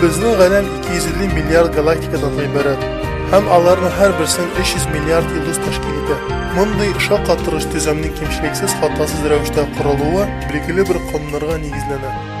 Безнең галәм 250 миллиард галактикадан гыйбарәт һәм аларның һәрберсен 300 миллиард йолдыз тәшкил итә. Мондый шаккатыргыч төземнең кимчелексез хатасыз рәвештә корылуы билгеле бер кануннарга нигезләнә.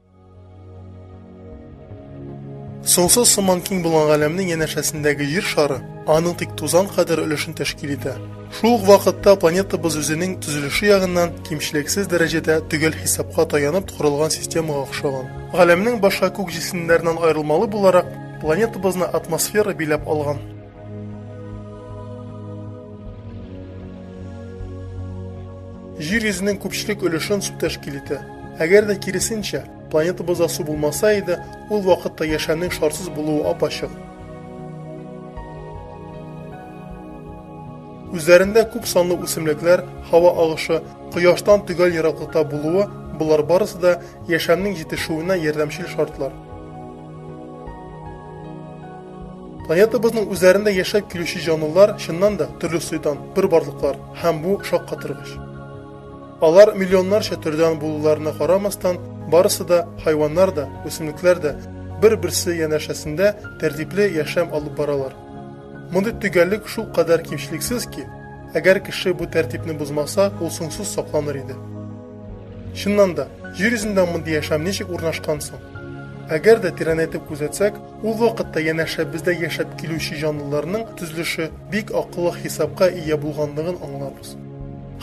Соңсыз сыман киң булган галәмнең янәшәсендәге җир шары аның тик тузан кадәр өлешен тәшкил итә. Шул ук вакытта планетабыз үзенең төзелеше ягыннан кимчелексез дәрәҗәдә төгәл хисапка таянып корылган системага охшаган. Галәмнең башка күк җисемнәреннән аерылмалы буларак, планетабызны атмосфера биләп алган. Җир йөзенең күпчелек өлешен су тәшкил итә. Әгәр дә киресенчә, планетабызда су булмаса иде, ул вакытта яшәүнең шарсыз булуы апачык. Үзләрендә күп санлы үсемлекләр, һава агышы, кояштан төгәл ераклыкта булуы, болар барысы да яшәүнең җитешүенә ярдәмчел шартлар. Планетабызның үзләрендә яшәп килүче җанлылар, чыннан да, төрле сойдан, бер барлыклар, һәм бу шаккатыргыч. Алар миллионнарча төрдән булуларына карамастан, барысы да, хайваннар да, үсемлекләр дә, бер-берсе янәшәсендә тәртипле яшәм алып баралар. Мондый төгәллек шул кадәр кимчелексез ки, әгәр кеше бу тәртипне бозмаса, ул соңсыз сакланыр иде. Чыннан да, Җир йөзендә мондый яшәм ничек урнашкан соң? Әгәр дә тирәнәйтеп күзәтсәк, Ул вакытта янәшәбездә яшәп килүче җанлыларның төзелеше бик акыллы хисапка ия булганлыгын аңлабыз.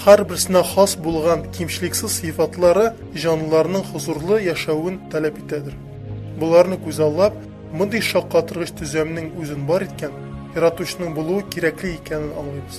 Һәрберсенә хас булган кимчелексез сыйфатлары җанлыларның хозурлы яшәвен таләп итәдер. Боларны күзаллап, мондый шаккатыргыч төзәмнең үзен бар иткән Яратучының булуы кирәкле икәнен аңлыйбыз.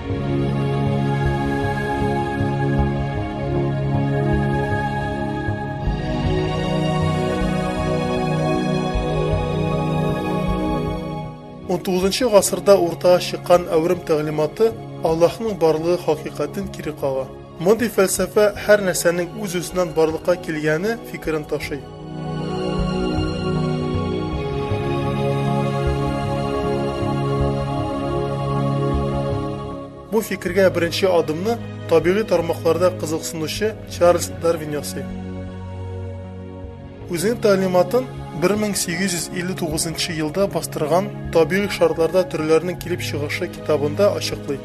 XIX гасырда уртага чыккан әүрем тәгълиматы Аллаһның барлыгы хакыйкатен кире кага. Мондый фәлсәфә һәр нәрсәнең үз-үзеннән барлыкка килгәне фикерен ташый. Бу фикергә беренче адымны табигый тармакларда кызыксынучы Чарльз Дарвин ясый. Үзенең тәгълиматын 1859 елда бастырган Табигый шартларда төрләрнең килеп чыгышы китабында ачыклый.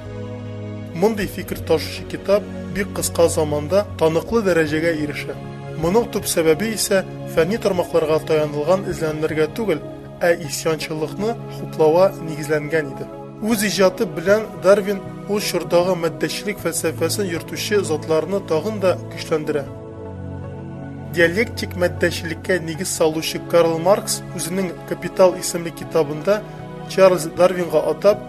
Мондый фикер ташучы китап бик кыска заманда таныклы дәрәҗәгә ирешә. Моның төп сәбәбе исә фәнни тармакларга таянылган эзләнүләргә түгел, ә исьянчыллыкны хуплауга нигезләнгән иде. Үз иҗаты белән Дарвин ул чордагы матдәчелек фәлсәфәсен йөртүче затларны тагын да көчләндерә. Диалектик матдәчелеккә нигез салучы Карл Маркс үзенең Капитал исемле китабында Чарльз Дарвинга атап,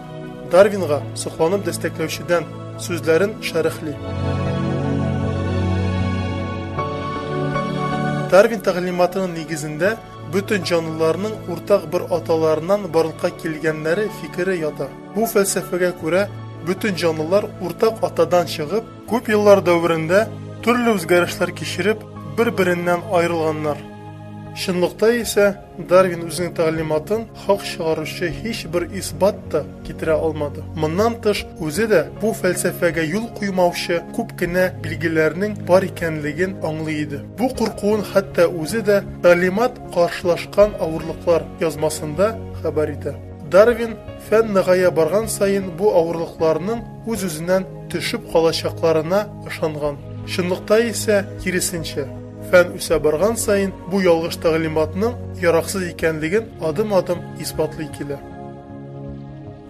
Дарвинга сокланып дәстәкләүчедән сүзләрен шәрехли. Дарвин тәгълиматының нигезендә бөтен җанлыларның уртак бер аталарыннан барлыкка килгәннәре фикере ята. Бу фәлсәфәгә күрә бөтен җанлылар уртак атадан чыгып, Күп еллар дәверендә төрле үзгәрешләр кичереп, бер-береннән аерылганнар. Чынлыкта исә Дарвин үзенең тәгълиматын хак чыгаручы һичбер исбат та китерә алмады. Моннан тыш, үзе дә бу фәлсәфәгә юл куймаучы күп кенә билгеләрнең бар икәнлеген аңлый иде. Бу куркуын хәтта үзе дә Тәгълимат каршылашкан авырлыклар язмасында хәбәр итә. Дарвин фән ныгая барган саен бу авырлыкларның үз-үзеннән төшеп калачакларына ышанган. Чынлыкта исә, киресенчә. Фән үсә барган саен бу ялгыш тәгълиматның яраксыз икәнлеген адым-адым исбатлый килә.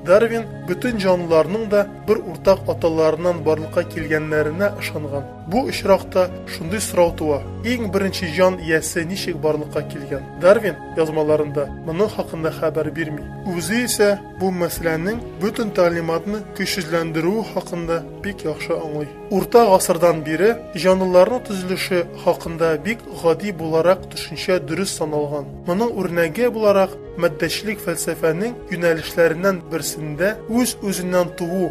Дарвин бөтен җанлыларның да бер уртак аталарыннан барлыкка килгәннәренә ышанган. Бу очракта шундый сорау туа, иң беренче җан иясе ничек барлыкка килгән? Дарвин язмаларында моның хакында хәбәр бирми. Үзе исә, Бу мәсьәләнең бөтен тәгълиматны көчсезләндерүе хакында бик яхшы аңлый. Урта гасырдан бире җанлыларның төзелеше хакында бик гади буларак төшенчә дөрес саналган. Моның үрнәге буларак матдәчелек фәлсәфәнең юнәлешләреннән берсендә үз-үзеннән туу,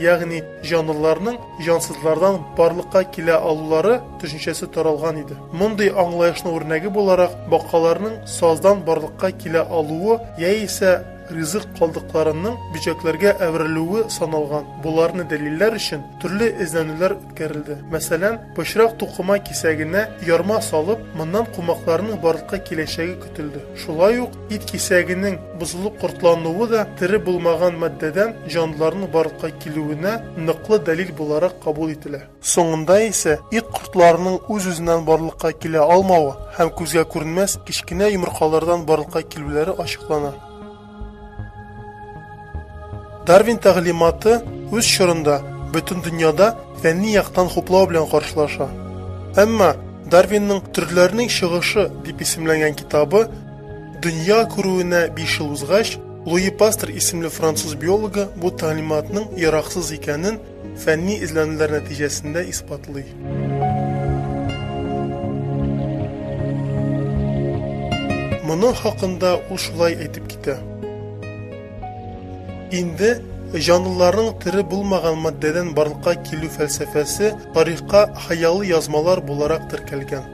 ягъни җанлыларның җансызлардан барлыкка килә алулары төшенчәсе таралган иде. Мондый аңлаешның үрнәге буларак бакаларның саздан барлыкка килә алуы яисә, ризык калдыкларының бөҗәкләргә әверелүе саналган. Боларны дәлилләр өчен төрле эзләнүләр үткәрелде. Мәсәлән, пычрак тукыма кисәгенә ярма салып, моннан кумакларның барлыкка киләчәге көтелде. Шулай ук ит кисәгенең бозылып кортлануы да тере булмаган матдәдән җанлыларның барлыкка килүенә ныклы дәлил буларак кабул ителә. Соңында исә ит кортларының үз-үзеннән барлыкка килә алмавы һәм күзгә күренмәс кечкенә йомыркалардан барлыкка килүләре ачыклана. Дарвин тәгълиматы үз чорында бөтен дөньяда фәнни яктан хуплау белән каршылаша. Әмма Дарвинның Төрләрнең чыгышы дип исемләнгән китабы дөнья күрүенә 5 ел узгач, Луи Пастер исемле француз биологы бу тәгълиматның яраксыз икәнен фәнни эзләнүләр нәтиҗәсендә исбатлый. Моның хакында ул шулай әйтеп китә. Инде җанлыларның тере булмаган матдәдән барлыкка килү фәлсәфәсе тарихка хыялы язмалар буларак теркәлгән.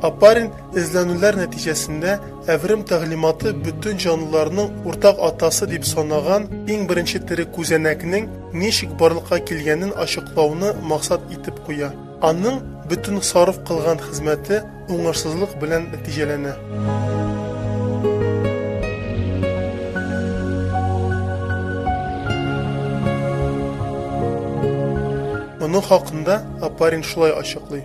Апарин эзләнүләр нәтиҗәсендә әверем тәгълиматы бөтен җанлыларның уртак атасы дип санаган иң беренче тере күзәнәкнең ничек барлыкка килгәнен ачыклауны максат итеп куя. Аның бөтен сарыф кылган хезмәте уңышсызлык белән нәтиҗәләнә. Моның хакында Апарин шулай ачыклый.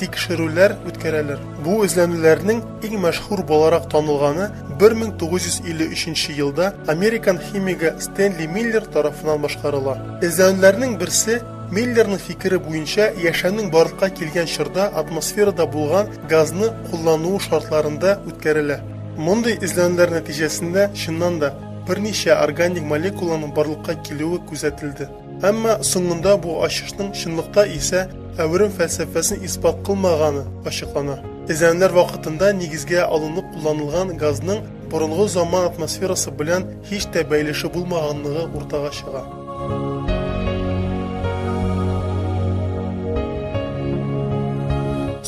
тикшерүләр үткәрәләр. Бу эзләнүләрнең иң мәшһүр буларак танылганы 1953 елда американ химигы Стэнли Миллер тарафыннан башкарыла. Эзләнүләрнең берсе Миллерның фикере буенча яшәүнең барлыкка килгән чорда атмосферада булган газны куллануы шартларында үткәрелә. Мондый эзләнүләр нәтиҗәсендә, чыннан да, берничә органик молекуланың барлыкка килүе күзәтелде. Әмма соңында бу ачышның чынлыкта исә әверем фәлсәфәсен исбат кылмаганы ачыклана. Эзләнүләр вакытында нигезгә алынып кулланылган газның борынгы заман атмосферасы белән һич тә бәйлеше булмаганлыгы уртага чыга.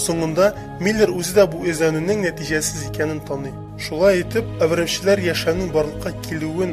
Соңында Миллер үзе дә бу эзләнүнең нәтиҗәсез икәнен таный. Шулай итеп, әверемчеләр яшәүнең барлыкка килүен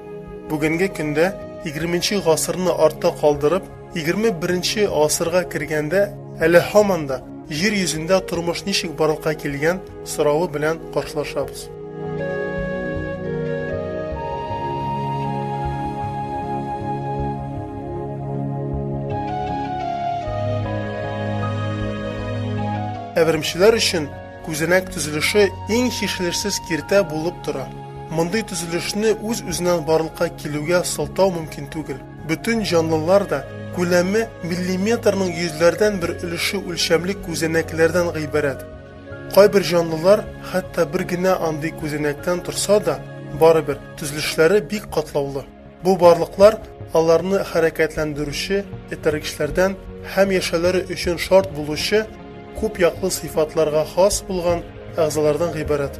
Бүгенге көндә 20 гасырны артта калдырып, 21 гасырга кергәндә әле һаман да җир йөзендә тормыш ничек барлыкка килгән соравы белән каршылашабыз. Әверемчеләр өчен Күзәнәк төзелеше иң чишелешсез киртә булып тора. Мондый төзелешне үз-үзеннән барлыкка килүгә сылтау мөмкин түгел. Бөтен җанлылар да күләме миллиметрның йөзләрдән бер өлеше үлчәмле күзәнәкләрдән гыйбарәт. Кайбер җанлылар хәтта бер генә андый күзәнәктән торса да, барыбер, төзелешләре бик катлаулы. Бу барлыклар аларны хәрәкәтләндерүче этәргечләрдән һәм яшәүләре өчен шарт булучы күп яклы сыйфатларга хас булган әгъзалардан гыйбарәт.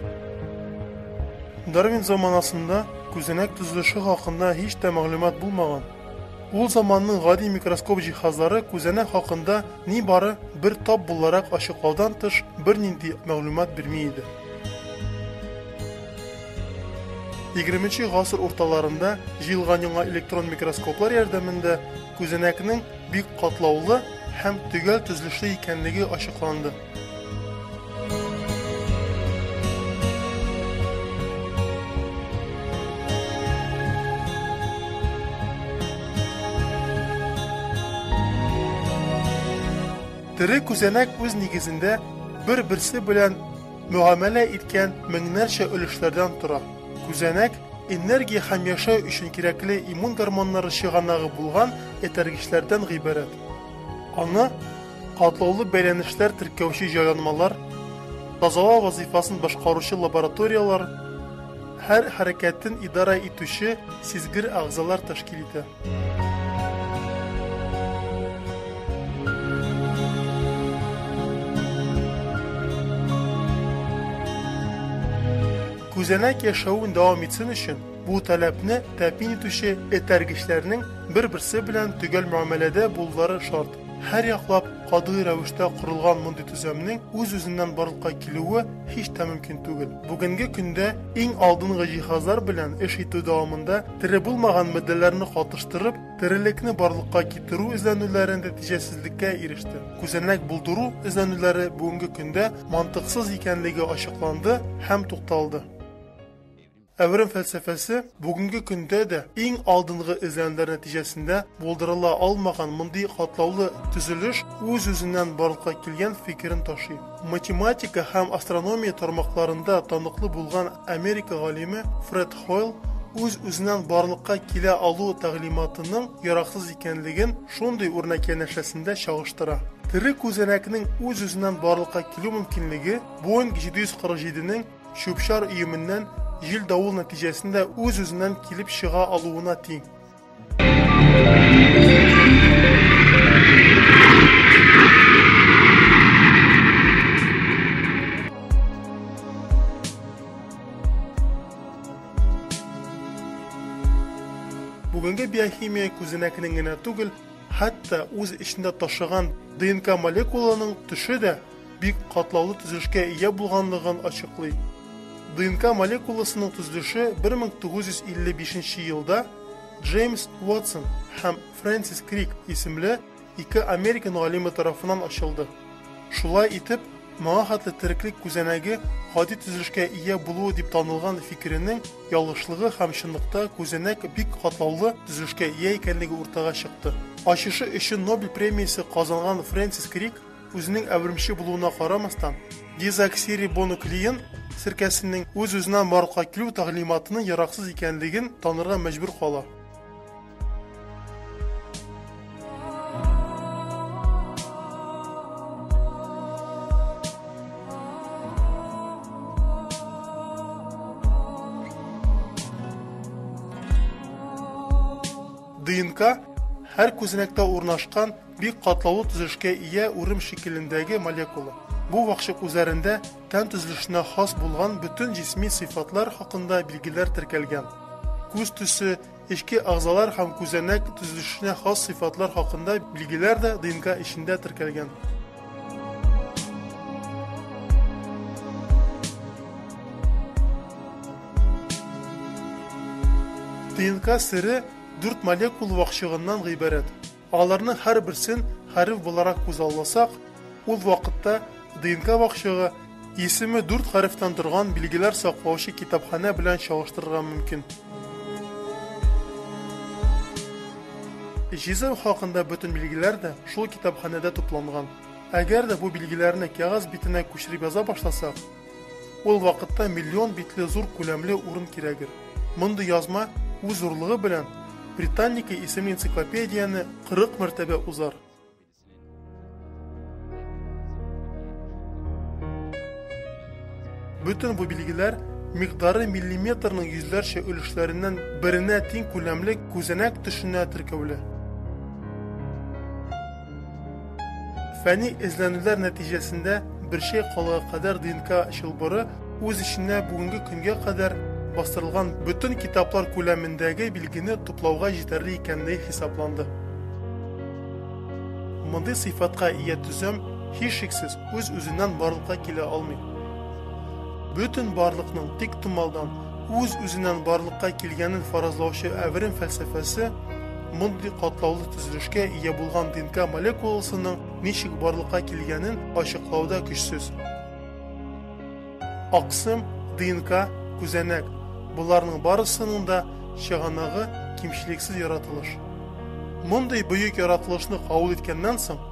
Дарвин заманасында күзәнәк төзелеше хакында һич тә мәгълүмат булмаган. Ул заманның гади микроскоп җиһазлары күзәнәк хакында нибары бер тап буларак ачыклаудан тыш бернинди мәгълүмат бирми иде. 20 гасыр урталарында җыелган яңа электрон микроскоплар ярдәмендә күзәнәкнең бик катлаулы һәм төгәл төзелешле икәнлеге ачыкланды. Тере күзәнәк үз нигезендә бер-берсе белән мөгамәлә иткән меңнәрчә өлешләрдән тора. Күзәнәк, энергия һәм яшәү өчен кирәкле иммун гормоннары чыганагы булган этәргечләрдән гыйбарәт. Аны катлаулы бәйләнешләр теркәүче җайланмалар, тазалау вазыйфасын башкаручы лабораторияләр, Һәр хәрәкәтен идарә итүче сизгер әгъзалар тәшкил итә. Күзәнәк яшәвен дәвам итсен өчен бу таләпне тәэмин итүче этәргечләрнең бер-берсе белән төгәл мөгамәләдә булулары шарт. Һәрьяклап катгый рәвештә корылган мондый төземнең үз-үзеннән барлыкка килүе һич тә мөмкин түгел. Бүгенге көндә иң алдынгы җиһазлар белән эш итү дәвамында тере булмаган матдәләрне катыштырып, терелекне барлыкка китерү эзләнүләре нәтиҗәсезлеккә иреште. Күзәнәк булдыру эзләнүләре бүгенге көндә мантыксыз икәнлеге ачыкланды һәм тукталды. Әверем фәлсәфәсе бүгенге көндә дә иң алдынгы эзләнүләр нәтиҗәсендә булдырыла алмаган мондый катлаулы төзелеш үз-үзеннән барлыкка килгән фикерен ташый. Математика һәм астрономия тармакларында таныклы булган Америка галиме Фред Хойл үз-үзеннән барлыкка килә алу тәгълиматының яраксыз икәнлеген шундый үрнәк янәшәсендә чагыштыра. Тере күзәнәкнең үз-үзеннән барлыкка килү мөмкинлеге Боинг 747 нең чүп-чар өеменнән җил-давыл нәтиҗәсендә үз-үзеннән килеп чыга алуына тиң. Бүгенге биохимия күзенәкнең генә түгел, хәтта үз эчендә ташыган ДНК молекуланың төше дә бик катлаулы төзелешкә ия булганлыгын ачыклый. ДНК молекуласының төзелеше 1955 елда Джеймс Уотсон һәм Фрэнсис Крик исемле ике американ галиме тарафыннан ачылды. Шулай итеп, моңа хәтле тереклек күзәнәге гади төзелешкә ия булуы дип танылган фикеренең ялгышлыгы һәм чынлыкта күзәнәк бик катлаулы төзелешкә ия икәнлеге уртага чыкты. Ачышы өчен Нобель премиясе казанган Фрэнсис Крик Үзенең әвермче булуына карамастан, дезоксирибонуклеин серкәсенең үз-үзеннән барлыкка килү тәгълиматының яраксыз икәнлеген танырга мәҗбүр кала. ДНК һәр күзәнәктә урнашкан Бик катлаулы төзелешкә ия урым шикелендәге молекула. Бу вакчык үзәрендә тән төзелешенә хас булган бөтен җисми сыйфатлар хакында билгеләр теркәлгән. Күз төсе, эчке әгъзалар һәм күзәнәк төзелешенә хас сыйфатлар хакында билгеләр дә ДНК эчендә теркәлгән. ДНК сере дүрт молекул вакчыгыннан гыйбарәт. Аларның һәрберсен хәреф буларак күзалласак, ул вакытта ДНК вакчыгы исеме дүрт хәрефтән торган билгеләр саклаучы китапханә белән чагыштырырга мөмкин. Җизем хакында бөтен билгеләр дә шул китапханәдә тупланган. Әгәр дә бу билгеләрне кәгазь битенә күчереп яза башласак, Ул вакытта миллион битле зур күләмле урын кирәгер. Мондый язма үз зурлыгы белән Британника исемле энциклопедияне 40 мәртәбә узар. Бөтен бу билгеләр микъдары миллиметрның йөзләрчә өлешләреннән беренә тиң күләмле күзәнәк төшенә теркәүле. Фәнни эзләнүләр нәтиҗәсендә бер чәй калыгы кадәр ДНК чылбыры үз эченә бүгенге көнгә кадәр бастырылган бөтен китаплар күләмендәге билгене туплауга җитәрле икәнлеге хисапланды. Мондый сыйфатка ия төзем, һичшиксез, үз-үзеннән барлыкка килә алмый. Бөтен барлыкның тиктомалдан, үз-үзеннән барлыкка килгәнен фаразлаучы әверем фәлсәфәсе, Мондый катлаулы төзелешкә ия булган ДНК молекуласының ничек барлыкка килгәнен ачыклауда көчсез. Аксым, ДНК, күзәнәк, боларның барысының да чыганагы кимчелексез яратылыш. Мондый бөек яратылышны кабул иткәннән соң,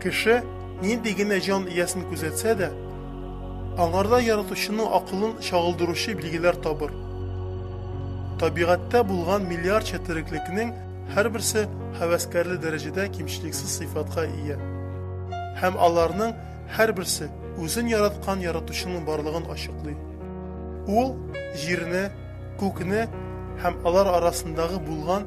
Кеше нинди генә җан иясен күзәтсә дә, аңарда Яратучының акылын чагылдыручы билгеләр табыр. Табигатьтә булган миллиардча тереклекнең һәрберсе һәвәскәрле дәрәҗәдә кимчелексез сыйфатка ия. Һәм аларның һәрберсе үзен яраткан Яратучының барлыгын ачыклый. Ул Җирне, Күкне һәм алар арасындагы булган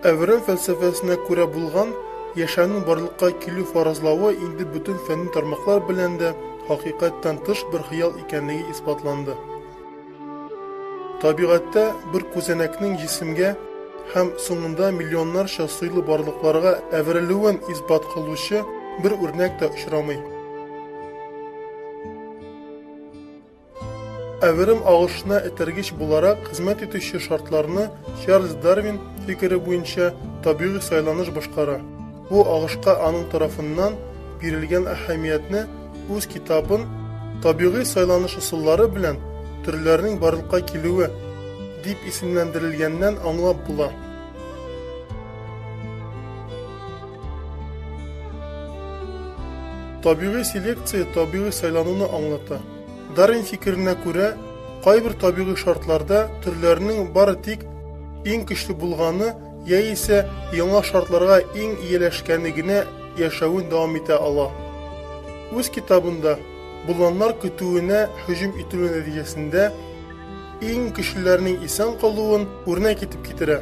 Әврәм фәлсәфәсенә күрә булган яшәүнең барлыкка килү фаразлавы инде бөтен фәнни тармаклар белән дә хакыйкатьтән тыш бер хыял икәнлеге исбатланды. Табигатьтә бер күзәнәкнең җисемгә һәм соңында миллионнарча сыйлы барлыкларга әверелүен исбат кылучы бер үрнәк тә очрамый. Әверем агышына этәргеч буларак хезмәт итүче шартларны Чарльз Дарвин фикере буенча табигый сайланыш башкара. Бу агышка аның тарафыннан бирелгән әһәмиятне үз китабын табигый сайланыш ысуллары белән төрләрнең барлыкка килүе дип исемләндерелгәннән аңлап була. Табигый селекция табигый сайлануны аңлата. Дарвин фикеренә күрә, кайбер табигый шартларда төрләрнең бары тик иң көчле булганы яисә яңа шартларга иң ияләшкәне генә яшәвен дәвам итә ала. Үз китабында боланнар көтүенә һөҗүм ителү нәтиҗәсендә иң көчлеләрнең исән калуын үрнәк итеп китерә.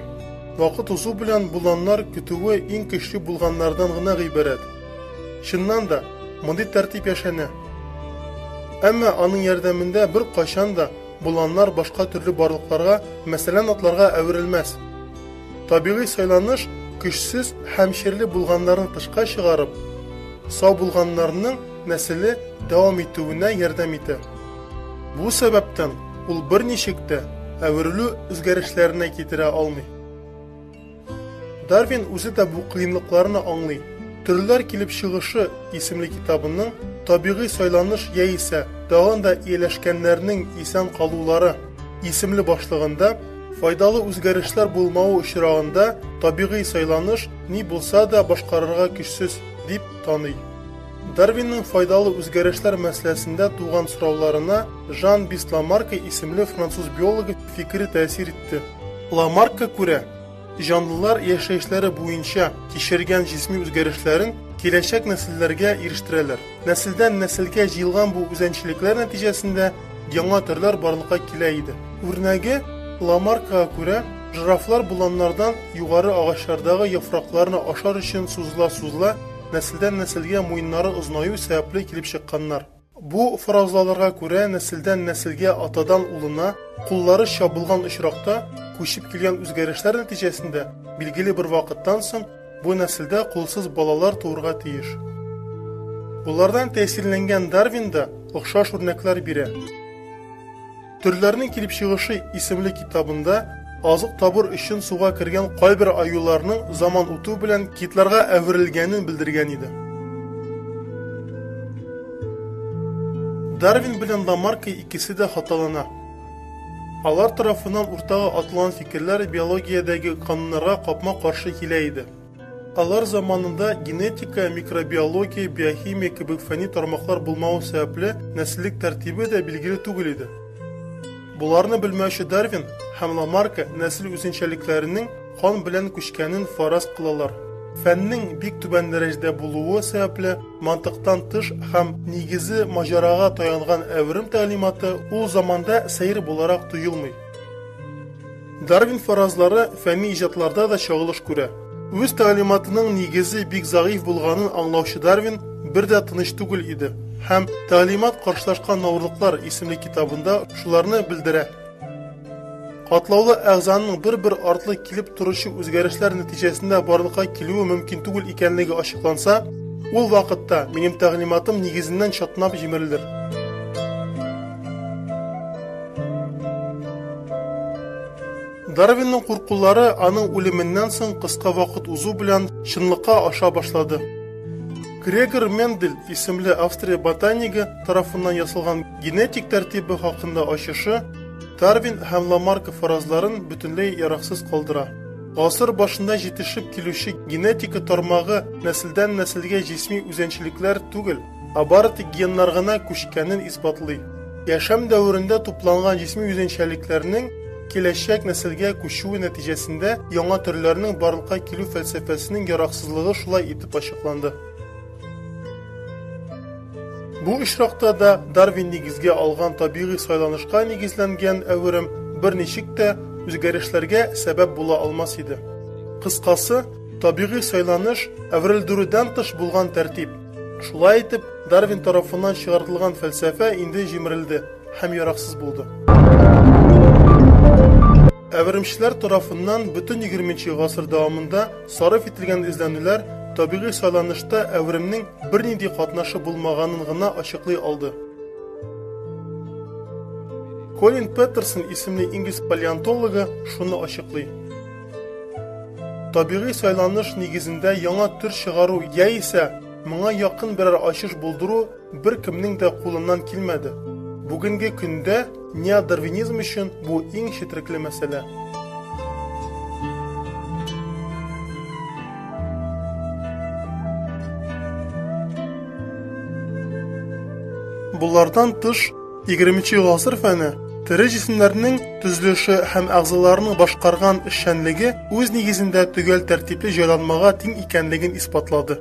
Вакыт узу белән боланнар көтүе иң көчле булганнардан гына гыйбарәт. Чыннан да, мондый тәртип яшәнә. Әмма аның ярдәмендә беркайчан да Боланнар башка төрле барлыкларга, мәсәлән, атларга әверелмәс. Табигый сайланыш көчсез һәм чирле булганнарны тышка чыгарып, сау булганнарның нәселе дәвам итүенә ярдәм итә. Бу сәбәптән ул берничек тә әверелү үзгәрешләренә китерә алмый. Дарвин үзе дә бу кыенлыкларны аңлый. Төрләр килеп чыгышы исемле китабының табигый сайланыш яисә тагын да ияләшкәннәрнең исән калулары исемле башлыгында файдалы үзгәрешләр булмавы очрагында табигый сайланыш ни булса да башкарырга көчсез дип таный. Дарвинның файдалы үзгәрешләр мәсьәләсендә туган сорауларына Жан Бисламарка исемле француз биологы фикере тәэсир итте. Ламаркка күрә, җанлылар яшәешләре буенча кичергән җисми үзгәрешләрен киләчәк нәселләргә ирештерәләр. Нәселдән-нәселгә җыелган бу үзәнчелекләр нәтиҗәсендә яңа төрләр барлыкка килә иде. Үрнәге Ламаркага күрә, жирафлар боланнардан югары агачлардагы яфракларны ашар өчен сузыла-сузыла, нәселдән-нәселгә муеннары озынаю сәбәпле килеп чыкканнар. Бу фаразлаларга күрә нәселдән нәселгә атадан улына куллары чабылган очракта күчеп килгән үзгәрешләр нәтиҗәсендә билгеле бер вакыттан соң бу нәселдә кулсыз балалар туырга тиеш. Болардан тәэсирләнгән Дарвин да охшаш үрнәкләр бирә. Төрләрнең килеп чыгышы исемле китабында азык табыр өчен суга кергән кайбер аюларның заман үтү белән китларга әверелгәнен белдергән иде. Дарвин белән Ламарка икесе дә хаталана. Алар тарафыннан уртага атылган фикерләр биологиядәге кануннарга капма-каршы килә иде. Алар заманында генетика, микробиология, биохимия кебек фәнни тармаклар булмавы сәбәпле нәселлек тәртибе дә билгеле түгел иде. Буларны белмәүче Дарвин һәм Ламарка нәсел үзенчәлекләренең кан белән күчкәнен фараз кылалар. Фәннең бик түбән дәрәҗәдә булуы сәбәпле мантыктан тыш һәм нигезе маҗарага таянган әверем тәгълиматы ул заманда сәер буларак тоелмый. Дарвин фаразлары фәнни иҗатларда да чагылыш күрә. Үз тәгълиматының нигезе бик зәгыйфь булганын аңлаучы Дарвин бер дә тыныч түгел иде һәм Тәгълимат каршылашкан навырлыклар исемле китабында шуларны белдерә. Катлаулы әгъзаның бер-бер артлы килеп торучы үзгәрешләр нәтиҗәсендә барлыкка килүе мөмкин түгел икәнлеге ачыкланса, ул вакытта минем тәгълиматым нигезеннән чатнап җимерелер. Дарвинның куркулары аның үлеменнән соң кыска вакыт узу белән чынлыкка аша башлады. Грегор Мендель исемле Австрия ботанигы тарафыннан ясалган генетик тәртибе хакында ачышы Дарвин һәм Ламарка фаразларын бөтенләй яраксыз калдыра. Гасыр башында җитешеп килүче генетика тармагы нәселдән нәселгә җисми үзенчәлекләр түгел, Ә бары тик геннар гына күчкәнен исбатлый. Яшәм дәверендә тупланган җисми үзенчәлекләрнең киләчәк нәселгә күчүе нәтиҗәсендә яңа төрләрнең барлыкка килү фәлсәфәсенең яраксызлыгы шулай итеп ачыкланды. Бу очракта да Дарвин нигезгә алган табигый сайланышка нигезләнгән әверем берничек тә үзгәрешләргә сәбәп була алмас иде. Кыскасы, табигый сайланыш әверелдерүдән тыш булган тәртип. Шулай итеп, Дарвин тарафыннан чыгартылган фәлсәфә инде җимерелде һәм яраксыз булды. Әверемчеләр тарафыннан бөтен 20 гасыр дәвамында сарыф ителгән эзләнүләр табигый сайланышта әверемнең бернинди катнашы булмаганын гына ачыклый алды. Колин Петерсон исемле инглиз палеонтологы шуны ачыклый. Табигый сайланыш нигезендә яңа төр чыгару яисә моңа якын берәр ачыш булдыру бер кемнең дә кулыннан килмәде. Бүгенге көндә неодарвинизм өчен бу иң четрекле мәсьәлә. Болардан тыш, 20 гасыр фәне тере җисемнәрнең төзелеше һәм әгъзаларының башкарган эшчәнлеге үз нигезендә төгәл тәртипле җайланмага тиң икәнлеген исбатлады.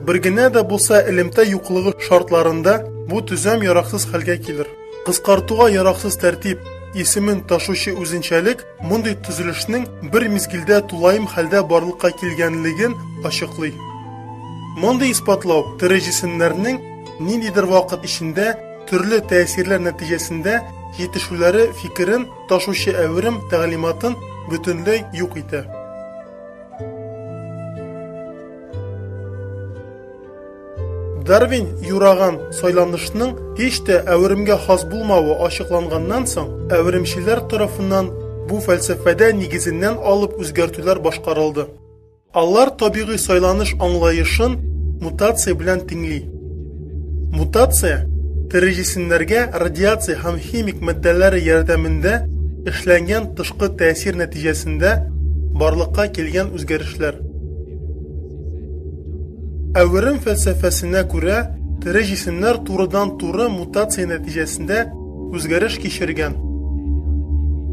Бер генә дә булса элемтә юклыгы шартларында бу төзәм яраксыз хәлгә килер. Кыскартуга яраксыз тәртип исемен ташучы үзенчәлек мондый төзелешнең бер мизгелдә тулаем хәлдә барлыкка килгәнлеген ачыклый. Мондый исбатлау тере җисемнәрнең Ниндидер вакыт эчендә төрле тәэсирләр нәтиҗәсендә җитешүләре фикерен ташучы әверем тәгълиматын бөтенләй юк итә. Дарвин юраган сайланышның һич тә әверемгә хас булмавы ачыкланганнан соң, әверемчеләр тарафыннан бу фәлсәфәдә нигезеннән алып үзгәртүләр башкарылды. Алар табигый сайланыш аңлаешын мутация белән тиңли. Мутация, тере җисемнәргә радиация һәм химик матдәләре ярдәмендә эшләнгән тышкы тәэсир нәтиҗәсендә барлыкка килгән үзгәрешләр. Әверем фәлсәфәсенә күрә, тере җисемнәр турыдан-туры мутация нәтиҗәсендә үзгәреш кичергән.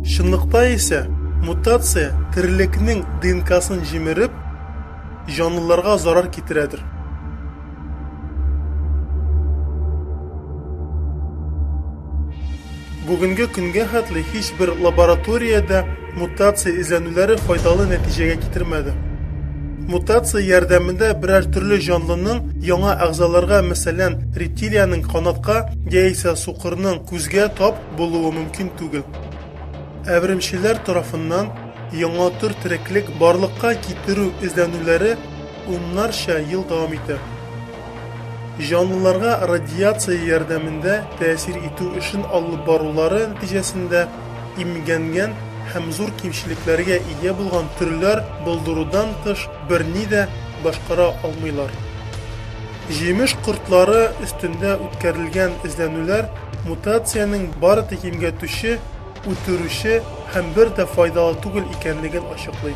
Чынлыкта исә, мутация терлекнең ДНКсын җимереп, җанлыларга зарар китерәдер. Бүгенге көнгә хәтле һичбер лабораториядә Мутация эзләнүләре файдалы нәтиҗәгә китермәде. Мутация ярдәмендә берәр төрле җанлының яңа әгъзаларга, мәсәлән, рептилиянең канатка яисә сукырның күзгә тап булуы мөмкин түгел. Әверемчеләр тарафыннан яңа төр тереклек барлыкка китерү эзләнүләре уннарча ел дәвам итә. Җанлыларга радиация ярдәмендә тәэсир итү эшен алып барулары нәтиҗәсендә имгәнгән һәм зур кимчелекләргә ия булган төрләр булдырудан тыш берни дә башкара алмыйлар. Җимеш кортлары өстендә үткәрелгән эзләнүләр мутациянең бары тик имгәтүче, үтерүче һәм бер дә файдалы түгел икәнлеген ачыклый.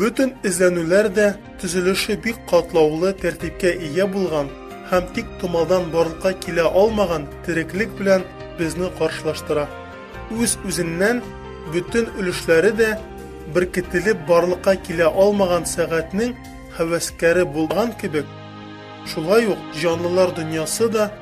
Бөтен эзләнүләр дә төзелеше бик катлаулы тәртипкә ия булган һәм тик томалдан барлыкка килә алмаган тереклек белән безне каршылаштыра. Үз-үзеннән бөтен өлешләре дә беркетелеп барлыкка килә алмаган сәгатьнең һәвәскәре булган кебек, шулай ук җанлылар дөньясы да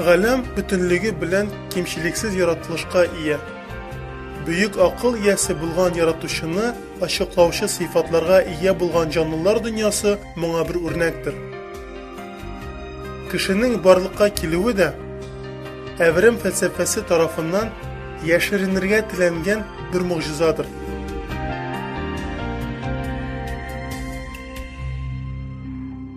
Галәм бөтенлеге белән кимчелексез яратылышка ия. Бөек акыл иясе булган Яратучыны ачыклаучы сыйфатларга ия булган җанлылар дөньясы моңа бер үрнәктер. Кешенең барлыкка килүе дә, Әверем фәлсәфәсе тарафыннан яшеренергә теләнгән бер могҗизадыр.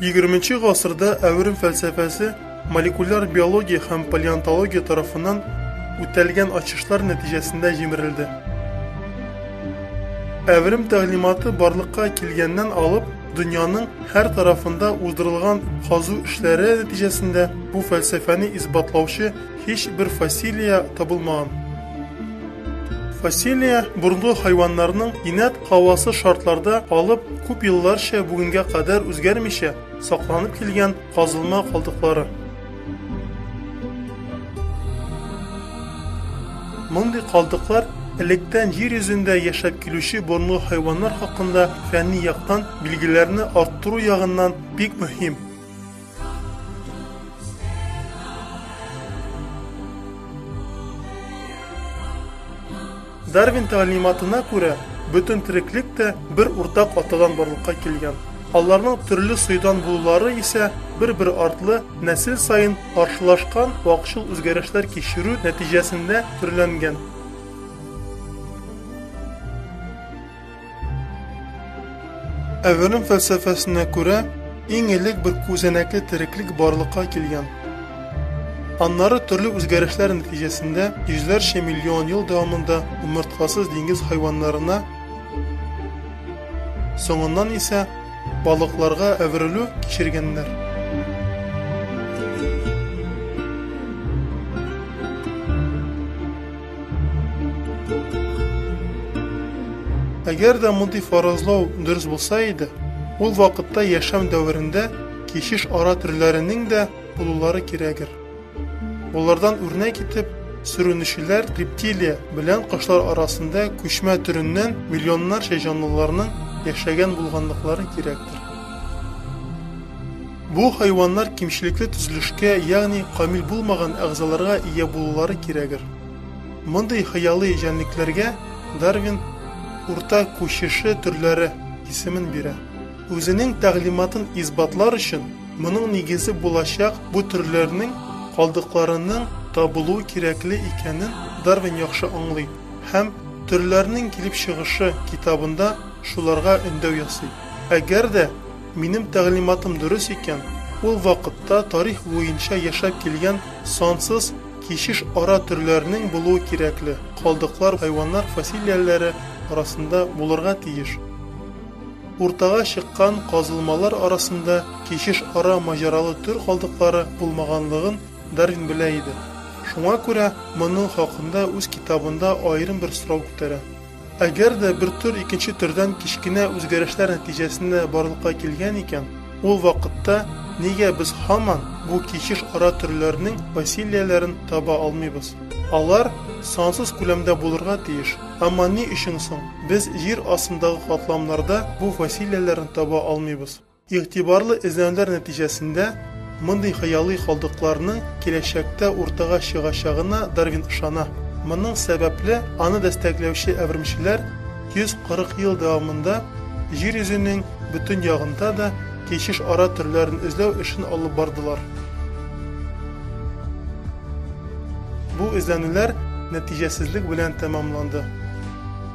20 гасырда әверем фәлсәфәсе молекуляр биология һәм палеонтология тарафыннан үтәлгән ачышлар нәтиҗәсендә җимерелде. Әверем тәгълиматы барлыкка килгәннән алып, дөньяның һәр тарафында уздырылган казу эшләре нәтиҗәсендә бу фәлсәфәне исбатлаучы һич бер фасилия табылмаган. Фасилия бурынгы хайваннарның инәт Һавасы шартларда калып, күп елларча бүгенгә кадәр үзгәрмичә сакланып килгән казылма калдыклары. Мондый калдыклар электән җир йөзендә яшәп килүче борынгы хайваннар хакында фәнни яктан билгеләрне арттыру ягыннан бик мөһим. Дарвин тәгълиматына күрә, бөтен тереклек тә бер уртак атадан барлыкка килгән. Аларның төрле союдан булулары исә бер-бер артлы нәсел саен каршылашкан вакчыл үзгәрешләр кичерү нәтиҗәсендә төрләнгән. Әверем фәлсәфәсенә күрә, иң элек бер күзәнәкле тереклек барлыкка килгән. Аннары төрле үзгәрешләр нәтиҗәсендә йөзләрчә миллион ел дәвамында умыртказсыз диңгез хайваннарына, соңыннан исә балыкларга әверелү кичергәннәр. Әгәр дә мондый фаразлау дөрес булса иде, ул вакытта яшәм дәверендә кичеш ара төрләренең дә булулары кирәгер. Болардан үрнәк итеп, сүрүнүчеләр рептилия белән кошлар арасында күчмә төреннән миллионнарча җанлыларның яшәгән булганлыклары кирәктер. Бу хайваннар кимчелекле төзелешкә, ягъни камил булмаган әгъзаларга ия булулары кирәгер. Мондый хыялый җәнлекләргә Дарвин Урта күчеше төрләре исемен бирә. Үзенең тәгълиматын исбатлар өчен, моның нигезе булачак бу төрләрнең калдыкларының табылуы кирәкле икәнен Дарвин яхшы аңлый һәм Төрләрнең килеп чыгышы китабында шуларга өндәү ясый. Әгәр дә Минем тәгълиматым дөрес икән, ул вакытта тарих буенча яшәп килгән сансыз кичеш ара төрләренең булуы кирәкле, калдыклар хайваннар фасилияләре арасында булырга тиеш. Уртага чыккан казылмалар арасында кичеш ара маҗаралы төр калдыклары булмаганлыгын Дарвин белә иде. Шуңа күрә моның хакында үз китабында аерым бер сорау күтәрә. Әгәр дә бер төр икенче төрдән кечкенә үзгәрешләр нәтиҗәсендә барлыкка килгән икән, ул вакытта нигә без һаман бу кичеш ара төрләрнең фасилияләрен таба алмыйбыз? Алар сансыз күләмдә булырга тиеш. Әмма ни өчен соң без җир астындагы катламнарда бу фасилияләрен таба алмыйбыз? Игътибарлы эзләнүләр нәтиҗәсендә мондый хыялый калдыкларның киләчәктә уртага чыгачагына Дарвин ышана. Моның сәбәпле, аны дәстәкләүче әвермчеләр 140 ел дәвамында Җир йөзенең бөтен ягында да кичеш ара төрләрен эзләү эшен алып бардылар. Бу эзләнүләр нәтиҗәсезлек белән тәмамланды.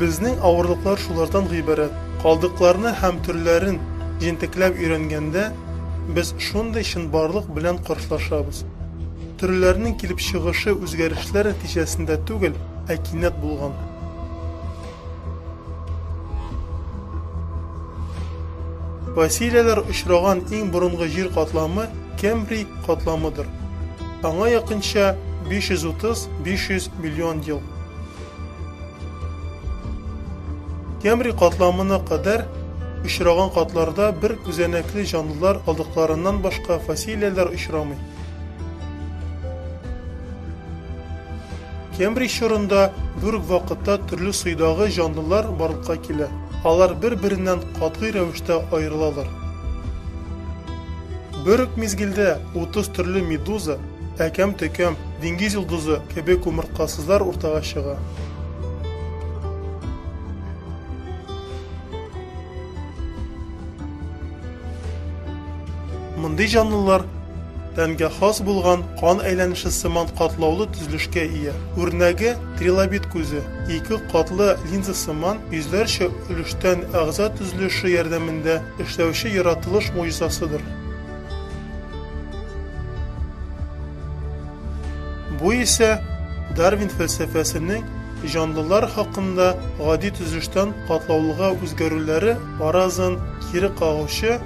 Безнең авырлыклар шулардан гыйбарәт. Калдыкларны һәм төрләрен җентекләп өйрәнгәндә, без шундый чынбарлык белән каршылашабыз. Төрләрнең килеп чыгышы үзгәрешләр нәтиҗәсендә түгел, ә кинәт булган. Фасилияләр очраган иң борынгы җир катламы Кембрий катламыдыр. Аңа якынча 530-500 миллион ел. Кембрий катламына кадәр очраган катларда бер күзәнәкле җанлылар алдыкларыннан башка фасилияләр очрамый. Кембрий чорында бер үк вакытта төрле суйдагы җанлылар барлыкка килә. Алар бер-береннән катгый рәвештә аерылалар. Бер үк мизгелдә 30 төрле медуза, әкәм-төкәм, диңгез йолдызы кебек умырткасызлар уртага чыга. Мондый җанлылар тәнгә хас булган кан әйләнеше сыман катлаулы төзелешкә ия. Үрнәге трилобит күзе, ике катлы линза сыман йөзләрчә өлештән әгъза төзелеше ярдәмендә Эшләүче яратылыш могҗизасыдыр. Бу исә Дарвин фәлсәфәсенең җанлылар хакында гади төзелештән катлаулыга үзгәрүләре фаразын кире кагучы,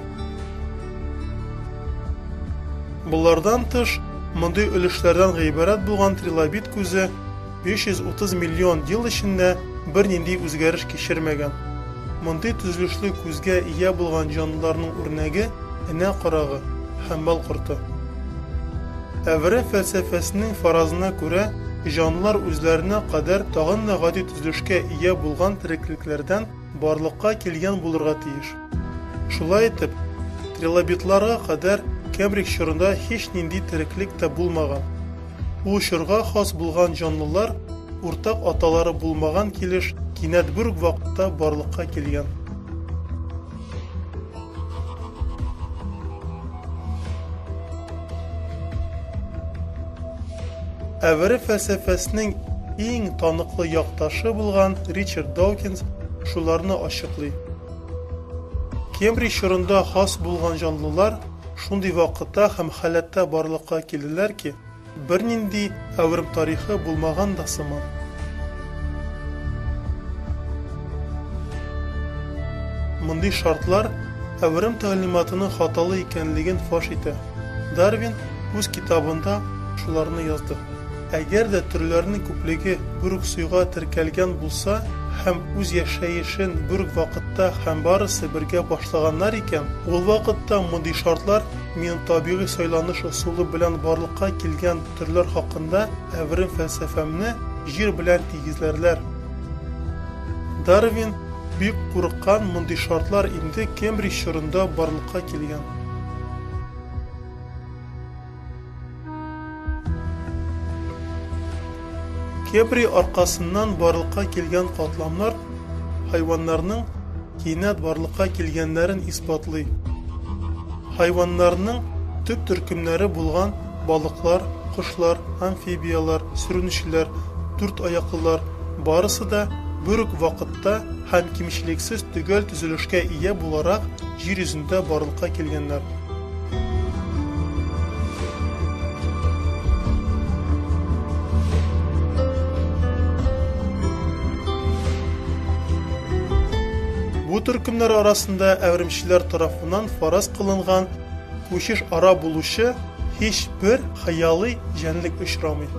болардан тыш, мондый өлешләрдән гыйбарәт булган трилобит күзе, 330 миллион ел эчендә бернинди үзгәреш кичермәгән. Мондый төзелешле күзгә ия булган җанлыларның үрнәге энә карагы, һәмбал корты. Әвре фәлсәфәсенең фаразына күрә, җанлылар үзләренә кадәр тагын да гади төзелешкә ия булган тереклекләрдән барлыкка килгән булырга тиеш. Шулай итеп, трилобитларга кадәр Кембридж чорында һич нинди тереклек тә булмаган. Ул чорга хас булган җанлылар уртак аталары булмаган килеш кинәт бер үк вакытта барлыкка килгән. Әвере фәлсәфәсенең иң таныклы якташы булган Ричард Даукинс шуларны ачыклый. Кембридж чорында хас булган җанлылар шундый вакытта һәм халәттә барлыкка килделәр ки, бернинди әверм тарихы булмаган да сыман. Мондый шартлар әверм тәгълиматының хаталы икәнлеген фаш итә. Дарвин үз китабында шуларны язды. Әгәр дә төрләрнең күплеге бер үк суйга теркәлгән булса һәм үз яшәешен бер үк вакытта һәм барысы бергә башлаганнар икән, ул вакытта мондый шартлар минем табигый сайланыш ысулы белән барлыкка килгән төрләр хакында әверем фәлсәфәмне Җир белән тигезләрләр. Дарвин бик курыккан мондый шартлар инде Кембридж чорында барлыкка килгән. Кепри аркасыннан барлыкка килгән катламнар хайваннарның кинәт барлыкка килгәннәрен исбатлый. Хайваннарның төп төркемнәре булган балыклар, кошлар, амфибияләр, сүрүнчеләр, дүрт аяклылар барысы да бер үк вакытта һәм кимчелексез төгәл төзелешкә ия буларак җир йөзендә барлыкка килгәннәр. Бу төркемнәр арасында әвремчеләр тарафыннан фараз кылынган күчеш ара булучы һич бер хыялый җәнлек очрамый.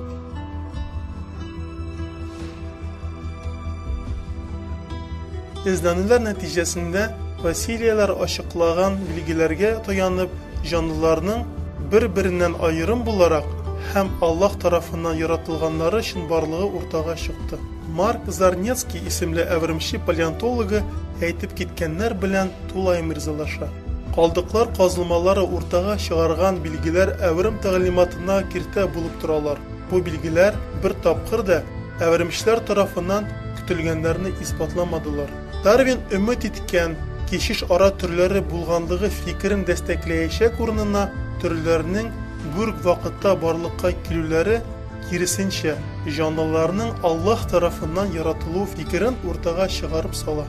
Эзләнүләр нәтиҗәсендә Василияләр ачыклаган билгеләргә таянып, җанлыларның бер-береннән аерым буларак һәм Аллаһ тарафыннан яратылганнары өчен барлыгы уртага чыкты. Марк Зарнецкий исемле әвермче палеонтологы әйтеп киткәннәр белән тулаем ризалаша. Калдыклар казылмалары уртага чыгарган билгеләр әверм тәгълиматына киртә булып торалар. Бу билгеләр бер тапкыр да әвермечләр тарафыннан көтелгәннәрне исбатламадылар. Дарвин өмет иткән кечеш ара төрләре булганлыгы фикерен дәстәкләячәк урынына, төрләрнең гүрг вакытта барлыкка килүләре, киресенчә, җанлыларның Аллаһ тарафыннан яратылуы фикерен уртага чыгарып сала.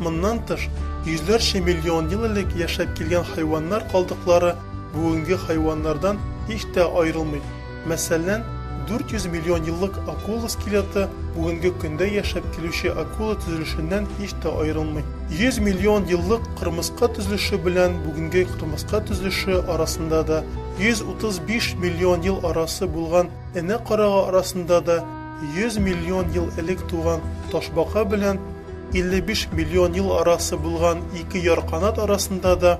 Моннан тыш, йөзләрчә миллион ел элек яшәп килгән хайваннар калдыклары бүгенге хайваннардан һич тә аерылмый. Мәсәлән, 400 миллион еллык акула скелеты бүгенге көндә яшәп килүче акула төзелешеннән һич тә аерылмый. 100 миллион еллык кырмыска төзелеше белән бүгенге кырмыска төзелеше арасында да, 135 миллион ел арасы булган энә карага арасында да, 100 миллион ел элек туган ташбака белән 55 миллион ел арасы булган ике ярканат арасында да,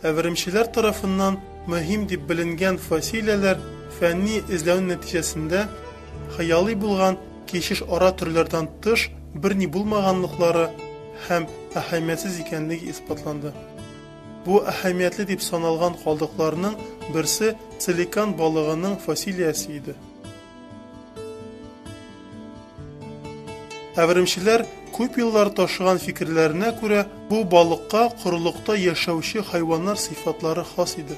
Әверемчеләр тарафыннан мөһим дип беленгән фасилияләр фәнни эзләү нәтиҗәсендә хыялый булган кишеш ара төрләрдән тыш берни булмаганлыклары һәм әһәмиятсез икәнлеге исбатланды. Бу әһәмиятле дип саналган калдыкларның берсе целикан балыгының фасилиясе иде. Әверемчеләр күп еллар ташыган фикерләренә күрә, бу балыкка корылыкта яшәүче хайваннар сыйфатлары хас иде.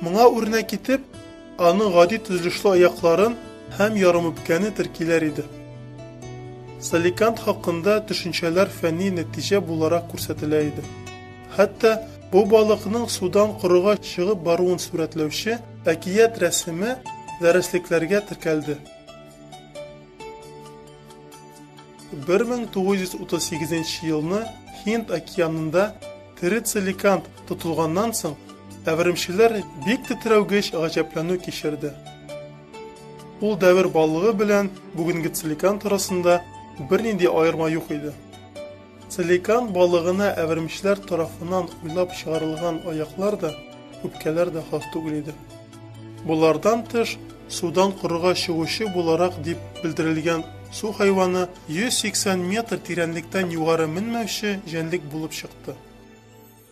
Моңа үрнәк китеп, аны гади төзелешле аякларын һәм ярымүпкәне теркиләр иде. Саликант хакында төшенчәләр фәнни нәтиҗә буларак күрсәтелә иде. Хәтта бу балыкның судан корыга чыгып баруын сурәтләүче Әкият рәсеме дәреслекләргә теркәлде. 1938 елны Һинд океанында терицеликант тотылганнан соң, әверемчеләр бик тетрәүгеч гаҗәпләнү кичерде. Ул дәвер балыгы белән бүгенге целикант арасында бернинди аерма юк иде. Целикан балыгына әвермчләр тарафынан уйлап чыгарылган аяклар да, үпкәләр дә хас түгел иде. Болардан тыш, судан корыга чыгучы буларак дип белдерелгән су хайваны 180 метр тирәнлектән югары менмәүче җәнлек булып чыкты.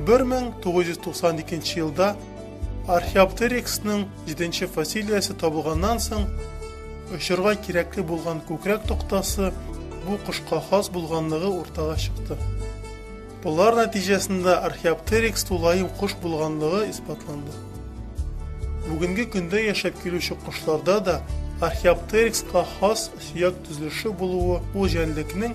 1992 елда Археоптериксның җиденче фасилиясе табылганнан соң, очырга кирәкле булган күкрәк токтасы бу кошка хас булганлыгы уртага чыкты. Болар нәтиҗәсендә Археоптерикс тулаем кош булганлыгы исбатланды. Бүгенге көндә яшәп килүче кошларда да Археоптерикска хас сөяк төзелеше булуы ул җәнлекнең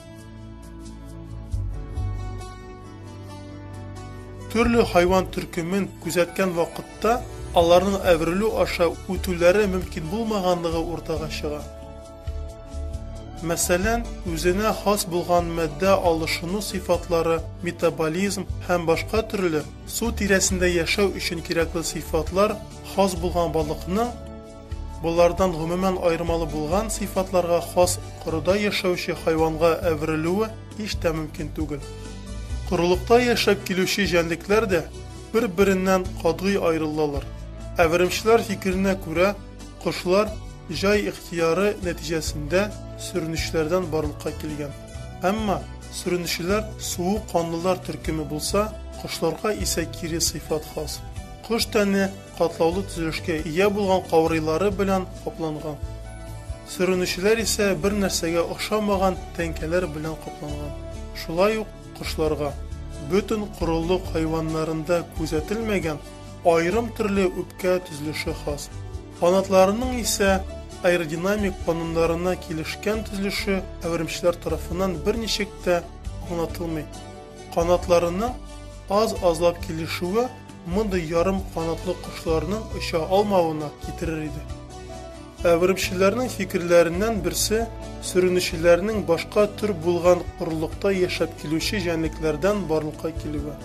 Төрле хайван төркемен күзәткән вакытта аларның әверелү аша үтүләре мөмкин булмаганлыгы уртага чыга. Мәсәлән, үзенә хас булган матдә алышыну сыйфатлары, метаболизм һәм башка төрле су тирәсендә яшәү өчен кирәкле сыйфатлар хас булган балыкның Болардан гомумән аермалы булган сыйфатларга хас корыда яшәүче хайванга әверелүе һич тә мөмкин түгел. Корылыкта яшәп килүче җәнлекләр дә бер-береннән катгый аерылалар. Әверемчеләр фикеренә күрә, кошлар җай ихтыяры нәтиҗәсендә сөренүчеләрдән барлыкка килгән. Әмма сөренүчеләр суык канлылар төркеме булса, кошларга исә кире сыйфат хас. Кош тәне катлаулы төзелешкә ия булган каурыйлары белән капланган. Сөренүчеләр исә бер нәрсәгә охшамаган тәңкәләр белән капланган. Шулай ук кошларга, бөтен корылык хайваннарында күзәтелмәгән аерым төрле үпкә төзелеше хас. Канатларының исә аэродинамик кануннарына килешкән төзелеше әверемчеләр тарафыннан берничек тә аңлатылмый. Канатларының аз-азлап килешүе мондый ярым канатлы кошларның оча алмавына китерер иде. Әверемчеләрнең фикерләреннән берсе сөренүчеләрнең башка төр булган корылыкта яшәп килүче җәнлекләрдән барлыкка килүе.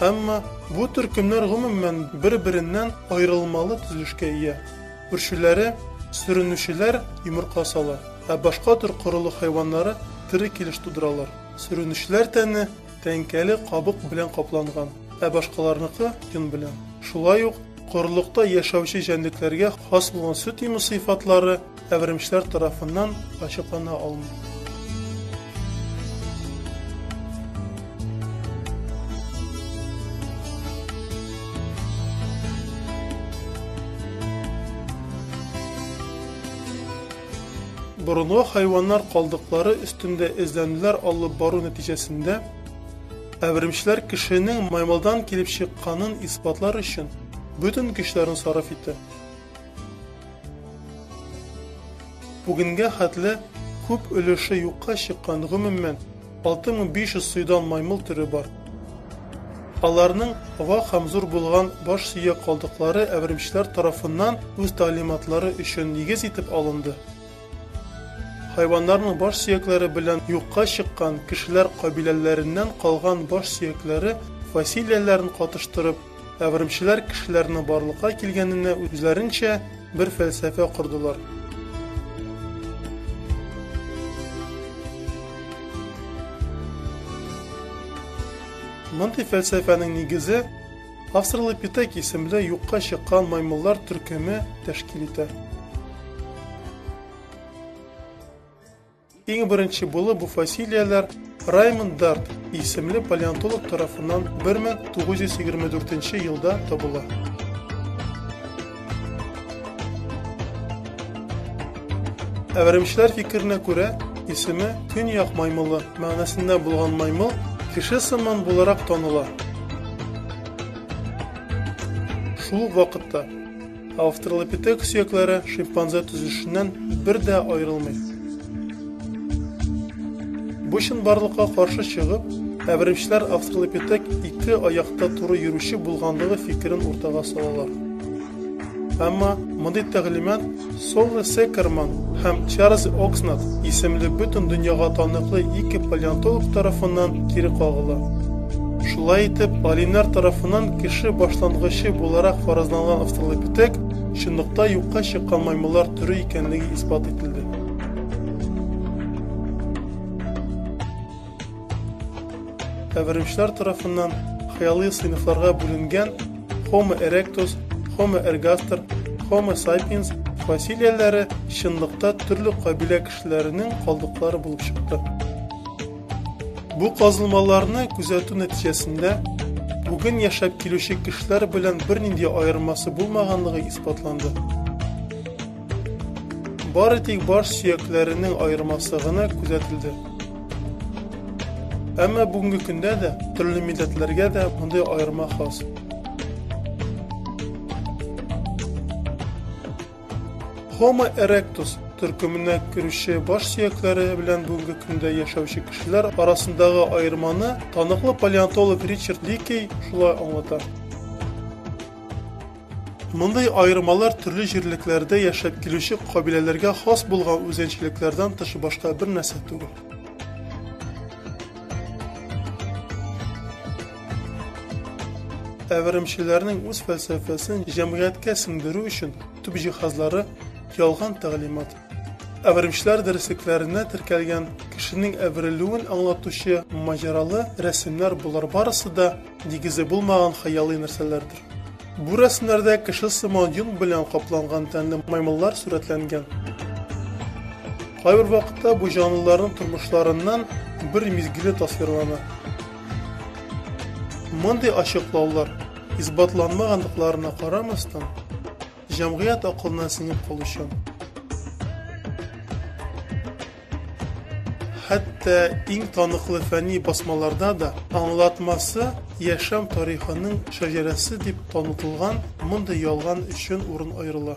Әмма бу төркемнәр гомумән бер-береннән аерылмалы төзелешкә ия. Үрчүләре сөренүчеләр йомырка сала, ә башка төр корылык хайваннары тере килеш тудыралар. Сөренечләр тәне тәңкәле кабык белән капланган, ә башкаларныкы, йон белән. Шулай ук, корылыкта яшәүче җәнлекләргә хас булган сөт имү сыйфатлары әверемчләр тарафыннан ачыклана алмый. Борынгы хайваннар калдыклары өстендә эзләнүләр алып бару нәтиҗәсендә, әверемчеләр кешенең маймылдан килеп чыкканын исбатлар өчен бөтен көчләрен сарыф итә. Бүгенгә хәтле күп өлеше юкка чыккан, гомумән, 6500 сыйдан маймыл төре бар. Аларның вак һәм зур булган баш сөяк калдыклары әверемчеләр тарафыннан үз тәгълиматлары өчен нигез итеп алынды. Хайваннарның баш сөякләре белән юкка чыккан кешеләр кабиләләреннән калган баш сөякләре фасилияләрен катыштырып, Әверемчеләр кешеләрне барлыкка килгәненә үзләренчә бер фәлсәфә кордылар. Мондый фәлсәфәнең нигезе Австралопитек исемле юкка чыккан маймыллар төркеме тәшкил итә. Иң беренче булып бу фасилияләр Раймонд Дарт исемле палеонтолог тарафыннан 1924 елда табыла. Әверемчеләр фикеренә күрә, исеме Көньяк маймылы мәгънәсендә булган маймыл кеше сыман буларак таныла. Шул вакытта Австралопитек сөякләре шимпанзе төзелешеннән бер дә аерылмый. Бу чынбарлыкка каршы чыгып, әберемчеләр австралопитек ике аякта туры йөрүче булганлыгы фикерен уртага салалар. Әмма мондый тәгълимат Соло Секерман һәм Чарльз Окснат исемле бөтен дөньяга таныклы ике палеонтолог тарафыннан кире кагыла. Шулай итеп, алимнар тарафыннан кеше башлангычы буларак фаразланган австралопитек чынлыкта юкка чыккан маймыллар төре икәнлеге исбат ителде. Әверемчеләр тарафыннан хыялый сыйныфларга бүленгән Homo erectus, Homo ergaster, Homo sapiens фасилияләре чынлыкта төрле кабилә кешеләренең калдыклары булып чыкты. Бу казылмаларны күзәтү нәтиҗәсендә бүген яшәп килүче кешеләр белән бернинди аермасы булмаганлыгы исбатланды. Бары тик баш сөякләренең аермасы гына күзәтелде. Әмма бүгенге көндә дә төрле милләтләргә дә мондый аерма хас. Homo erectus төркеменә керүче баш сөякләре белән бүгенге көндә яшәүче кешеләр арасындагы аерманы таныклы палеонтолог Ричард Ликей шулай аңлата. Мондый аермалар төрле җирлекләрдә яшәп килүче кабиләләргә хас булган үзенчәлекләрдән тыш башка бер нәрсә түгел. Ә веремчеләрнең үз фәлсәфәсен җәмгыятькә сеңдерү өчен төп җиһазлары ялган тәгълимат. Ә веремчеләр дәреслекләренә теркәлгән кешенең әверелүен аңлатучы маҗаралы рәсемнәр болар барысы да нигезе булмаган хыялый нәрсәләрдер. Бу рәсемнәрдә кеше сыман йон белән капланган тәнле маймыллар сурәтләнгән. Кайбер вакытта бу җанлыларның тормышларыннан бер мизгеле тасвирлана. Мондый ачыклаулар, исбатланмагандыкларына карамастан, җәмгыять акылына сеңеп калучан. Хәтта иң таныклы фәнни басмаларда да аңлатмасы яшәм тарихының шәҗәрәсе дип танытылган мондый ялган өчен урын аерыла.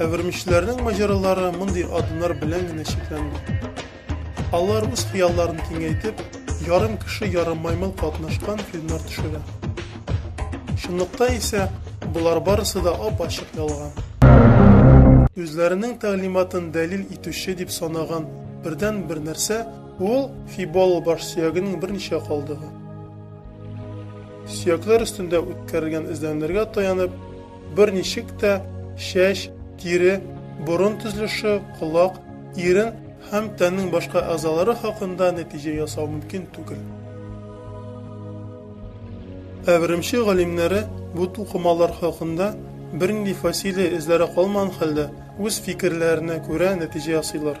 Әвермичләрнең маҗаралары мондый адымнар белән генә чикләнми. Алар үз хыялларын киңәйтеп, ярым кеше, ярым маймыл катнашкан фильмнар төшерә. Чынлыкта исә болар барысы да ап-ачык ялган. Үзләренең тәгълиматын дәлил итүче дип санаган бердән бер нәрсә ул фибол баш сөягенең берничә калдыгы. Сөякләр өстендә үткәрелгән эзләнүләргә таянып, берничек тә чәч, тире, борын төзелеше, колак, ирен һәм тәннең башка әгъзалары хакында нәтиҗә ясау мөмкин түгел. Әверемче галимнәре бу тукымалар хакында бернинди фасилия эзләре калмаган хәлдә үз фикерләренә күрә нәтиҗә ясыйлар.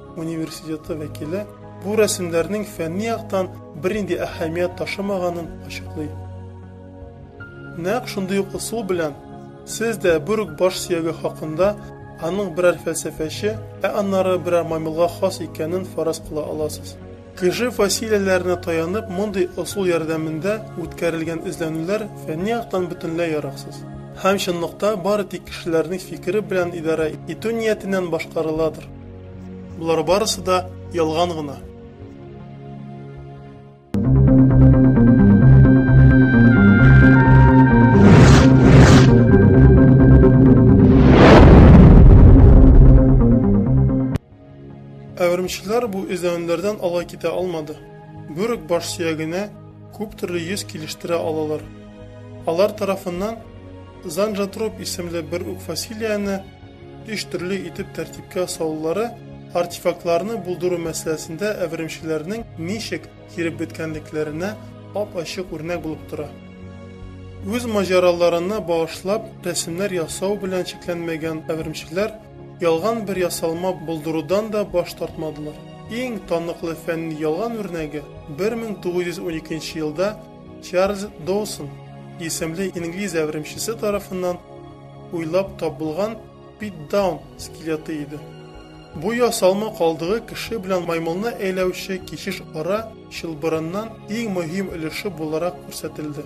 университеты вәкиле бу рәсемнәрнең фәнни яктан бернинди әһәмият ташымаганын ачыклый. Нәкъ шундый ук ысул белән сез дә бер үк баш сөяге хакында аның берәр фәлсәфәче, ә аннары берәр маймылга хас икәнен фараз кыла аласыз. Кеше фасилияләренә таянып мондый ысул ярдәмендә үткәрелгән эзләнүләр фәнни яктан бөтенләй яраксыз һәм чынлыкта бары тик кешеләрнең фикере белән идарә итү ниятеннән башкарыладыр. Болар барысы да ялган гына. Ә өремчеләр бу эзләнүләрдән алай китә алмады. Бүрек баш сөягенә күп төрле йөз килештерә алалар. Алар тарафыннан Занжатроп исемле бер үк фасилияне өч төрле итеп тәртипкә салулары артефактларны булдыру мәсьәләсендә әверемчеләрнең ничек киреп беткәнлекләренә ап-ачык үрнәк булып тора. Үз маҗараларына багышлап рәсемнәр ясау белән чикләнмәгән әверемчеләр Ялган бер ясалма булдырудан да баш тартмадылар. Иң таныклы фәнни ялган үрнәге 1912 елда Чарльз Доусон исемле инглиз әверемчесе тарафыннан уйлап табылган Питдаун скелеты иде. Бу ясалма калдыгы кеше белән маймылны әйләүче кичеш ара чылбырыннан иң мөһим өлеше буларак күрсәтелде.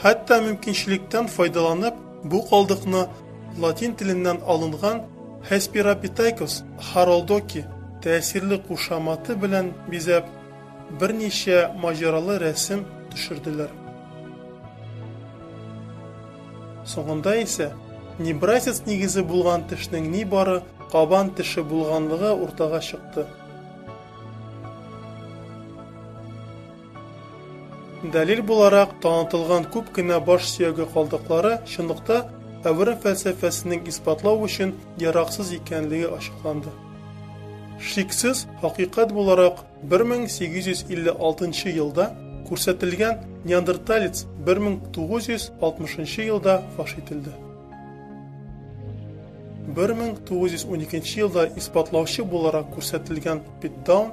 Хәтта мөмкинчелектән файдаланып, бу калдыкны латин теленнән алынган Hesperapithecus haroldoki тәэсирле кушаматы белән бизәп, берничә маҗаралы рәсем төшерделәр. Соңында исә небрасец нигезе булган тешнең нибары кабан теше булганлыгы уртага чыкты. Дәлил буларак танытылган күп кенә баш сөяге калдыклары чынлыкта әвере фәлсәфәсенең исбатлау өчен яраксыз икәнлеге ачыкланды. Шиксез, хакыйкать буларак 1856 елда күрсәтелгән неандерталец 1960 елда фаш ителде. 1912 елда исбатлаучы буларак күрсәтелгән Питтдаун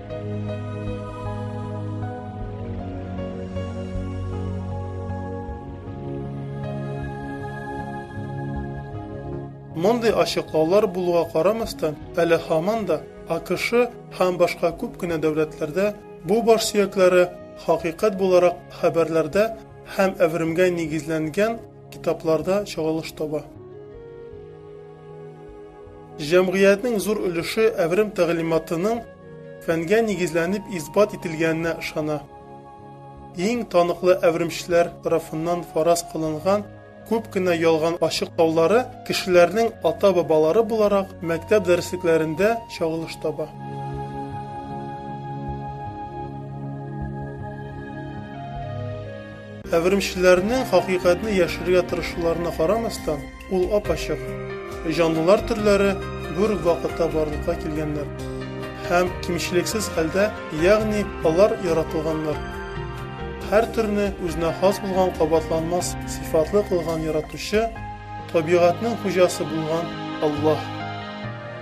Мондый ачыклаулар булуга карамастан, әле һаман да АКШ һәм башка күп кенә дәүләтләрдә бу баш сөякләре хакыйкать буларак хәбәрләрдә һәм әверемгә нигезләнгән китапларда чагылыш таба. Җәмгыятьнең зур өлеше әверем тәгълиматының фәнгә нигезләнеп исбат ителгәненә ышана. Иң таныклы әверемчеләр тарафыннан фараз кылынган күп кенә ялган ачыклаулары кешеләрнең ата-бабалары буларак мәктәп дәреслекләрендә чагылыш таба. Әверемчеләрнең хакыйкатьне яшерергә тырышуларына карамастан, ул ап-ачык. Җанлылар төрләре бер үк вакытта барлыкка килгәннәр һәм кимчелексез хәлдә, ягъни алар яратылганнар. Һәр төрне үзенә хас булган кабатланмас сыйфатлы кылган Яратучы, табигатьнең хуҗасы булган Аллаһ.